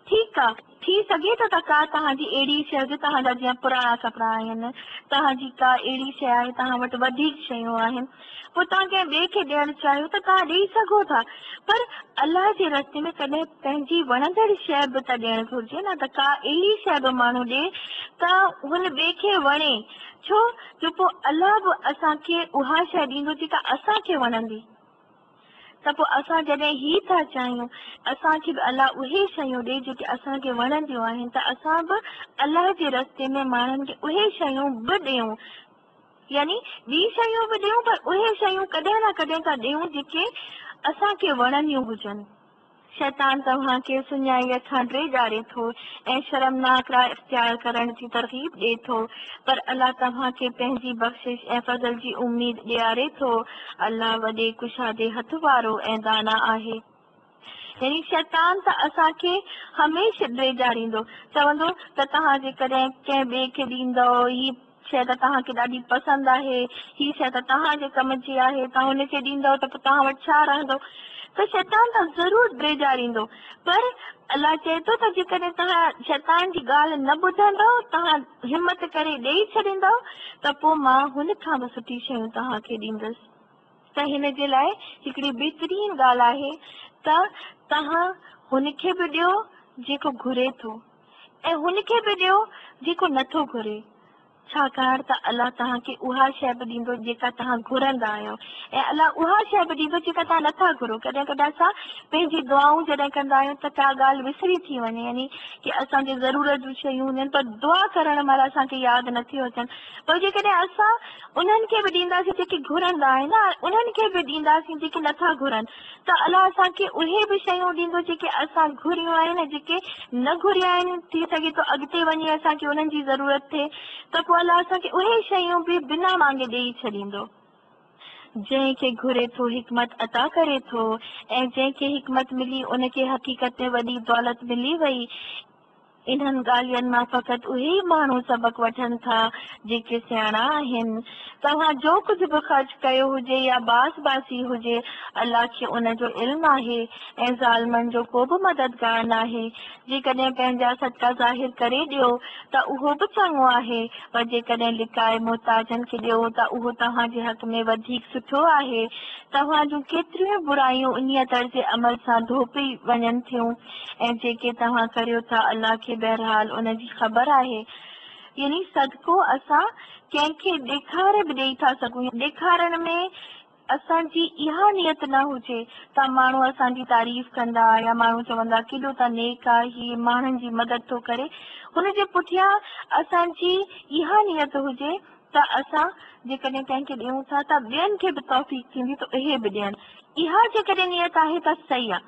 ٺيڪ آ، ٿي سگهي ٿو ته ڪا توهان جي اهڙي شي هجي، توهان جا جيئن پراڻا ڪپڙا آهن، توهان جي ڪا اهڙي شي آهي، توهان وٽ وڌيڪ شيون آهن، پوء توهان ڪنهن ٻئي کي ڏيڻ چاهيو ته توهان ڏيئي سگهو ٿا، پر الله جي رستي ۾ ڪڏهن پنهنجي وڻندڙ شيء به ته ڏيڻ گهرجي نه ته ڪا اهڙي شيء به ماڻهو ڏئي ته هن ٻئي کي وڻي، ڇو جو پوء الله به اسان کي اها شيء ڏيندو جيڪا اسان کي وڻندي. ته پوء اسان جڏهن هي ٿا چاهيون ته اسان کي به الله اهي شيون ڏي جيڪي اسان کي وڻنديون آهن ته اسان به الله جي رستي ۾ ماڻهن کي اهي شيون به ڏيون يعني ٻي شيون به ڏيون پر اهي شيون ڪڏهن نه ڪڏهن ته ڏيون جيڪي اسان کي وڻنديون هجن. شيطان توهان کي سڃائيء کان ڊيڄاري ٿو ۽ شرمناڪ راهه اختيار ڪرڻ جي ترغيب ڏئي ٿو، پر الله توهان کي پنهنجي بخشش ۽ فضل جي اميد ڏياري ٿو. الله وڏي ڪشادي هٿ وارو ۽ دانا آهي. يعني شيطان ته اسان کي هميشھ ڊيڄاريندو، چوندو ته توهان جيڪڏهن ڪنهن ٻئي کي ڏيندؤ، هي شيء ته توهان کي ڏاڍي پسند آهي. هي شيء ته توهان جي ڪم جي آهي. توهان هن کي ڏيندؤ ته پوء توهان وٽ ڇا رهندو؟ ته شيطان توهان ضرور ڊيڄاريندو. پر الله چئي ٿو ته جيڪڏهن توهان شيطان جي ڳالهه نه ٻڌندؤ، توهان همت ڪري ڏيئي ڇڏيندؤ، ته پوء مان هن کان به سٺي شيون توهان کي ڏيندس. ته هن جي لاء هڪڙي بهترين ڳالهه آهي ته توهان هن کي به ڏيو، جيڪو گهري ٿو. ۽ هن کي به ڏيو جيڪو نه ٿو گهري، ڇاڪاڻ ته الله توهان کي اها شيء به ڏيندو جيڪا توهان گهرندا آهيو، ۽ الله اها شيء به ڏيندو جيڪا توهان نه ٿا گهرو. ڪڏهن ڪڏهن اسان پنهنجي دعائون جڏهن ڪندا آهيون ته ڪا ڳالهه وسري ٿي وڃي، يعني ڪي اسان جي ضرورت جون شيون هونديون آهن، پر دعا ڪرڻ مهل اسان کي ياد نه ٿيون اچن، پر جيڪڏهن اسان انهن کي به ڏينداسين جيڪي گهرندا آهن ۽ انهن کي به ڏينداسين جيڪي نه ٿا گهرن. ته الله اسان کي اهي به شيون ڏيندو جيڪي اسان گهريون آهن ۽ جيڪي نه گهريا آهن، ٿي سگهي ٿو اڳتي وڃي اسان کي انهن جي ضرورت ٿئي ته پوء الله اسان کي اهي شيون به بنا مانگي ڏيئي ڇڏيندو. جنهن کي گهري ٿو حڪمت عطا ڪري ٿو ۽ جنهن کي حڪمت ملي ان کي حقيقت ۾ وڏي دولت ملي وئي انهن ڳالهين مان فقط اهي ئي ماڻهو سبق وٺن ٿا، جيڪي سياڻا آهن. توهان جو ڪجهه به خرچ ڪيو هجي يا باس باسي هجي، الله کي ان جو علم آهي ۽ ظالمن جو ڪو به مددگار ناهي. جيڪڏهن پنهنجا صدقا ظاهر ڪري ڏيو ته اهو به چڱو آهي، پر جيڪڏهن لڪائي محتاجن کي ڏيو ته اهو توهان جي حق ۾ وڌيڪ سٺو آهي. توهان جون ڪيتريون ئي برايون انهيء طرز عمل سان ڌوپي وڃن ٿيون. ۽ جيڪي توهان ڪريو ٿا الله کي بهرحال ان جي خبر آهي. يعني صدقو اسان ڪنهن کي ڏيکاري به ڏيئي ٿا سگهون يا ڏيکارڻ ۾ اسان جي اها نيت نه هجي ته ماڻهو اسان جي تعريف ڪندا يا ماڻهو چوندا ڪيڏو ته نيڪ آ هي ماڻهن جي مدد ٿو ڪري هن جي پٺيان اسان جي اها نيت هجي ته اسان جيڪڏهن ڪنهن کي ڏيون ٿا ته ٻين کي به توفيق ٿيندي ته اهي به ڏين. اها جيڪڏهن نيت آهي ته صحيح آ.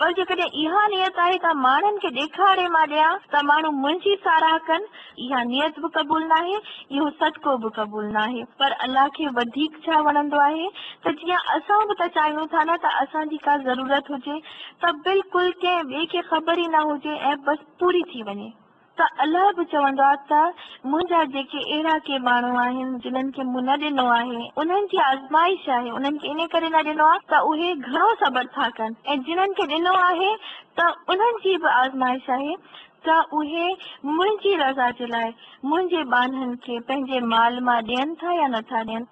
پر جيڪڏهن اها نيت آهي ته ماڻهن کي ڏيکاڙي مان ڏيان ته ماڻهو منهنجي ساراهه ڪن، اها نيت به قبول ناهي، اهو صدقو به قبول ناهي. پر الله کي وڌيڪ ڇا وڻندو آهي ته جيئن اسان به ته چاهيون ٿا نه ته اسان جي ڪا ضرورت هجي ته بلڪل ڪنهن ٻئي کي خبر ئي نه هجي ۽ بس پوري ٿي وڃي. ته الله به چوندو آهي ته منهنجا جيڪي اهڙا ڪي ماڻهو آهن جنهن کي مون نه ڏنو آهي انهن جي آزمائش آهي انهن کي ان ڪري نه ڏنو آهي ته اهي گهڻو صبر ٿا ڪن ۽ جنهن کي ڏنو آهي ته انهن جي به آزمائش آهي ته اهي منهنجي رضا جي لاء منهنجي ٻانهن کي پنهنجي مال مان ڏين ٿا يا نٿا ڏين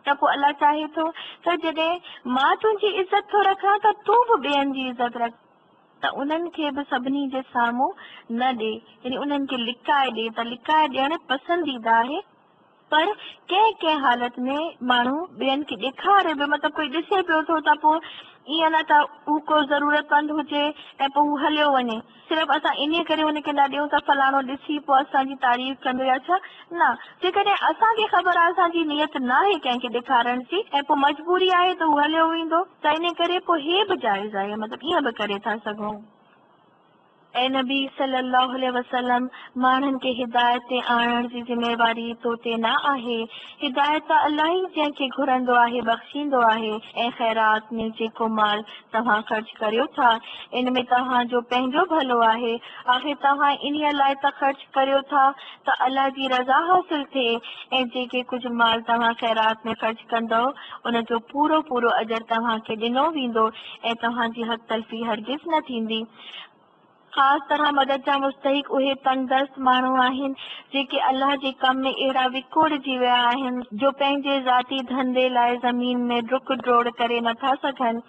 ته پوء الله چاهي ٿو ته جڏهن مان تنهنجي عزت ٿو رکان ته تون به ٻين جي عزت رک. ته انهن کي به سڀني جي سامهون نه ڏي، يعني انهن کي لڪائي ڏي ته لڪائي ڏيڻ پسنديده آهي، پر ڪنهن ڪنهن حالت ۾ ماڻهو ٻين کي ڏيکاري به مطلب ڪوئي ڏسي پيو ٿو ته پوء ائين نه ته هو ڪو ضرورتمند هجي ۽ پوء هو هليو وڃي، صرف اسان انهيء ڪري هن کي نه ڏيون ته فلاڻو ڏسي پوء اسان جي تعريف ڪندو يا ڇا؟ نه، جيڪڏهن اسان کي خبر آهي اسان جي نيت ناهي ڪنهن کي ڏيکارڻ جي ۽ پوء مجبوري آهي ته هو هليو ويندو، ته انهيء ڪري پوء هي به جائز آهي، مطلب ائين به ڪري ٿا سگهون. اي نبي صلّي اللّٰه عليه وسلّم! ماڻهن کي هدايت تي آڻڻ جي ذميواري تو تي نه آهي. هدايت ته الله ئي جنهن کي گهرندو آهي بخشيندو آهي ۽ خيرات ۾ جيڪو مال توهان خرچ ڪريو ٿا، ان ۾ توهان جو پنهنجو ڀلو آهي. آخر توهان انهيء لاء ته خرچ ڪريو ٿا ته الله جي رضا حاصل ٿئي ۽ جيڪي ڪجهه مال توهان خيرات ۾ خرچ ڪندؤ، ان جو پورو پورو اجر توهان کي ڏنو ويندو ۽ توهان جي حق تلفي هرگز نه ٿيندي. خاص طرح مدد جا مستحق اهي تنگدست ماڻهو آهن، جيڪي الله جي ڪم ۾ اهڙا وڪوڙجي ويا آهن، جو پنهنجي ذاتي ڌنڌي لاء زمين ۾ ڊڪ ڊوڙ ڪري نٿا سگهن.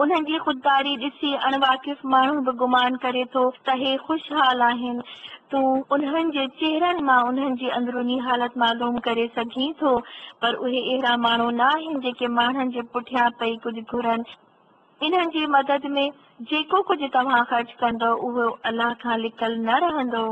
انهن جي خودداري ڏسي اڻ واقف ماڻهو به گمان ڪري ٿو ته هي خوشحال آهن. تون انهن جي چهرن مان انهن جي اندروني حالت معلوم ڪري سگهين ٿو پر اهي اهڙا ماڻهو نه آهن جيڪي ماڻهن جي پٺيان پئي ڪجهه گهرن. انهن جي مدد ۾ جيڪو ڪجهه توهان خرچ ڪندؤ اهو الله کان لڪل نه رهندو.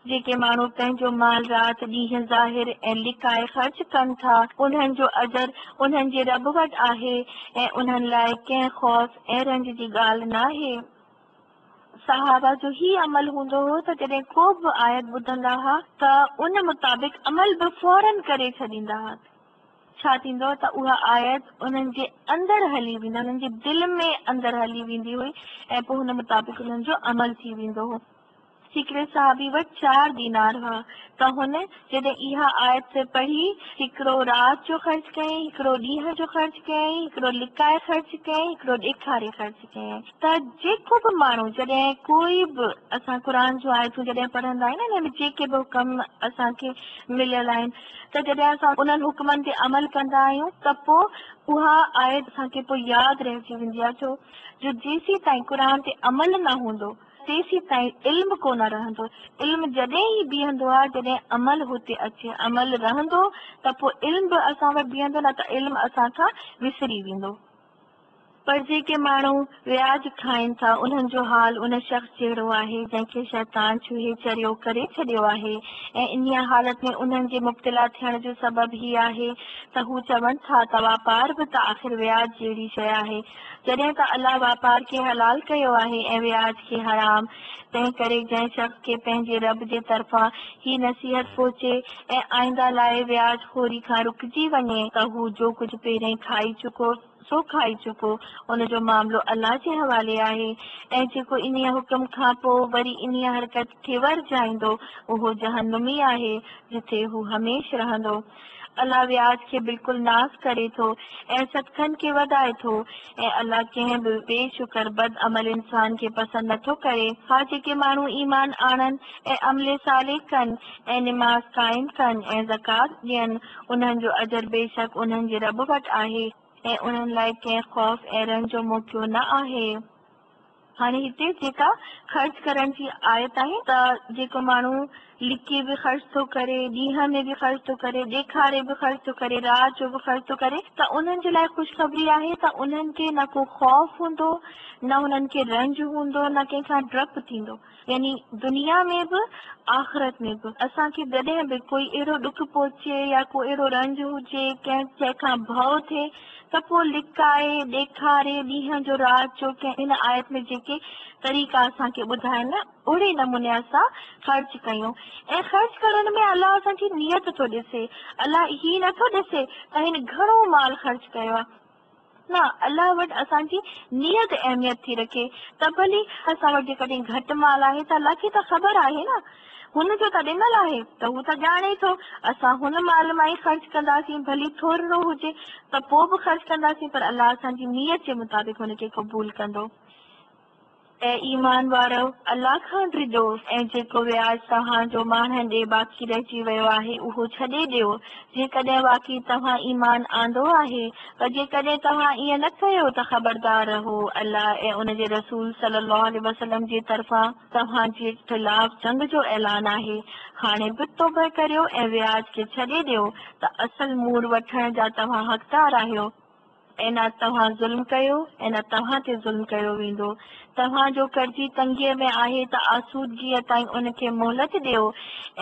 جيڪي ماڻهو پنهنجو مال رات ڏينهن ظاهر ۽ لڪائي خرچ ڪن ٿا، انهن جو اجر انهن جي رب وٽ آهي ۽ انهن لاء ڪنهن خوف ۽ رنج جي ڳالهه ناهي. صحابه جو هي عمل هوندو هو ته جڏهن ڪو به آيت ٻڌندا ها ته ان مطابق عمل به فوراً ڪري ڇڏيندا ها. ڇا ٿيندو ته اها آيت انهن جي اندر هلي ويندي، انهن جي دل ۾ اندر هلي ويندي هئي ۽ پوء ان مطابق انهن جو عمل ٿي ويندو هو. هڪڙي صحابي وٽ چار دينار هئا ته هن جڏهن اها آيت پڙهي، هڪڙو رات جو خرچ ڪيائين، هڪڙو ڏينهن جو خرچ ڪيائين، هڪڙو لڪائي خرچ ڪيائين، هڪڙو ڏيکاري خرچ ڪيائين ته جيڪو به ماڻهو جڏهن ڪوئي به اسان قرآن جون آيتون جڏهن پڙهندا آهيون انهن ۾ جيڪي به حڪم اسان کي مليل آهن ته جڏهن اسان انهن حڪمن تي عمل ڪندا آهيون ته پوء اها آيت اسان کي پوء ياد رهجي ويندي آهي ڇو جو جيسين تائين قرآن تي عمل نه هوندو تيسين تائين علم ڪونه رهندو. علم جڏهن ئي بيهندو آهي جڏهن عمل هتي اچي. عمل رهندو ته پوء علم به اسان وٽ بيهندو نه ته علم اسان کان وسري ويندو. پر جيڪي ماڻهو وياج کائين ٿا انهن جو حال ان شخص جهڙو آهي جنهن کي شيطان ڇهي چريو ڪري ڇڏيو آهي ۽ انهيء حالت ۾ انهن جي مبتلا ٿيڻ جو سبب هي آهي ته هو چون ٿا ته واپار به ته آخر وياج جهڙي شيء آهي جڏهن ته الله واپار کي حلال ڪيو آهي ۽ وياج کي حرام، تنهنڪري جنهن شخص کي پنهنجي رب جي طرفان هي نصيحت پهچي ۽ آئنده لاء وياج خوري کان رڪجي وڃي، ته هو جو ڪجهه پهرئين کائي چڪو سو کائي چڪو، ان جو معاملو الله جي حوالي آهي، ۽ جيڪو انهيء حڪم کان پوء وري انهيء حرڪت کي ورجائيندو، اهو جهنمي آهي، جتي هو هميشھ رهندو. الله وياج کي بلڪل ناس ڪري ٿو ۽ صدقن کي وڌائي ٿو ۽ الله ڪنهن به بي شڪر بد عمل انسان کي پسند نه ٿو ڪري. ها جيڪي ماڻهو ايمان آڻن ۽ عمل صالح ڪن ۽ نماز قائم ڪن ۽ زڪوات ڏين انهن جو اجر بيشڪ انهن جي رب وٽ آهي ۽ انهن لاء ڪنهن خوف ۽ رنج جو موقعو نه آهي. هاڻي هتي جيڪا خرچ ڪرڻ جي آيت آهي ته جيڪو ماڻهو لڪي به خرچ ٿو ڪري، ڏينهن ۾ به خرچ ٿو ڪري، ڏيکاري به خرچ ٿو ڪري، رات جو به خرچ ٿو ڪري ته انهن جي لاء خوشخبري آهي ته انهن کي نه ڪو خوف هوندو، نه انهن کي رنج هوندو، نه ڪنهن کان ڊپ ٿيندو. يعني دنيا ۾ به آخرت ۾ به اسان کي جڏهن به ڪوئي اهڙو ڏک پهچي يا ڪو اهڙو رنج هجي ڪنهن شيء کان ڀؤ ٿئي ته پوء لڪائي ڏيکاري ڏينهن جو رات جو ڪنهن هن آيت ۾ جيڪي طريقا اسان کي ٻڌاين اهڙي نموني اسان خرچ ڪيون ۽ خرچ ڪرڻ ۾ الله اسان جي نيت ٿو ڏسي الله هي نه ٿو ڏسي ته هن گهڻو مال خرچ ڪيو آهي نه الله وٽ اسان جي نيت اهميت ٿي رکي ته ڀلي، اسان وٽ جيڪڏهن گهٽ مال آهي ته الله کي ته خبر آهي نه، هن جو ته ڏنل آهي ته هو ته ڄاڻي ٿو، اسان هن مال مان ئي خرچ ڪنداسين ڀلي ٿورڙو هجي ته پوء به خرچ ڪنداسين پر الله اسان جي نيت جي مطابق ان کي قبول ڪندو. اي ايمان وارؤ! الله کان ڊڄو ۽ جيڪو وياج توهان جو ماڻهن ڏي باقي رهجي ويو آهي اهو ڇڏي ڏيو، جيڪڏهن واقعي توهان ايمان آندو آهي، پر جيڪڏهن توهان ائين نه ڪيو ته خبردار رهو الله ۽ ان جي رسول صلّي اللّٰه عليه وسلّم جي طرفان توهان جي خلاف جنگ جو اعلان آهي، هاڻي به توبهه ڪريو ۽ وياج کي ڇڏي ڏيو ته اصل مور وٺڻ جا توهان حقدار آهيو. ۽ نه توهان ظلم ڪيو ۽ نه توهان تي ظلم ڪيو ويندو. توهان جو قرضي تنگيء ۾ آهي ته آسودگيء تائين ان کي مهلت ڏيو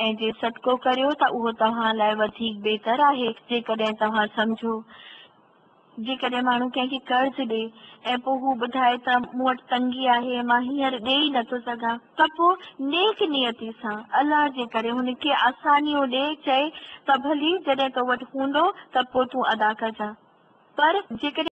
۽ جي صدقو ڪريو ته اهو توهان لاء وڌيڪ بهتر آهي جيڪڏهن توهان سمجهو. جيڪڏهن ماڻهو ڪنهن کي قرض ڏئي ۽ پوء هو ٻڌائي ته مون وٽ تنگي آهي مان هينئر ڏئي ئي نٿو سگهان ته پوء نيڪ نيتي سان الله جي ڪري هن کي آسانيون ڏئي چئي ته ڀلي جڏهن تو وٽ هوندو ته پوء تون ادا ڪجان پر جيڪڏهن.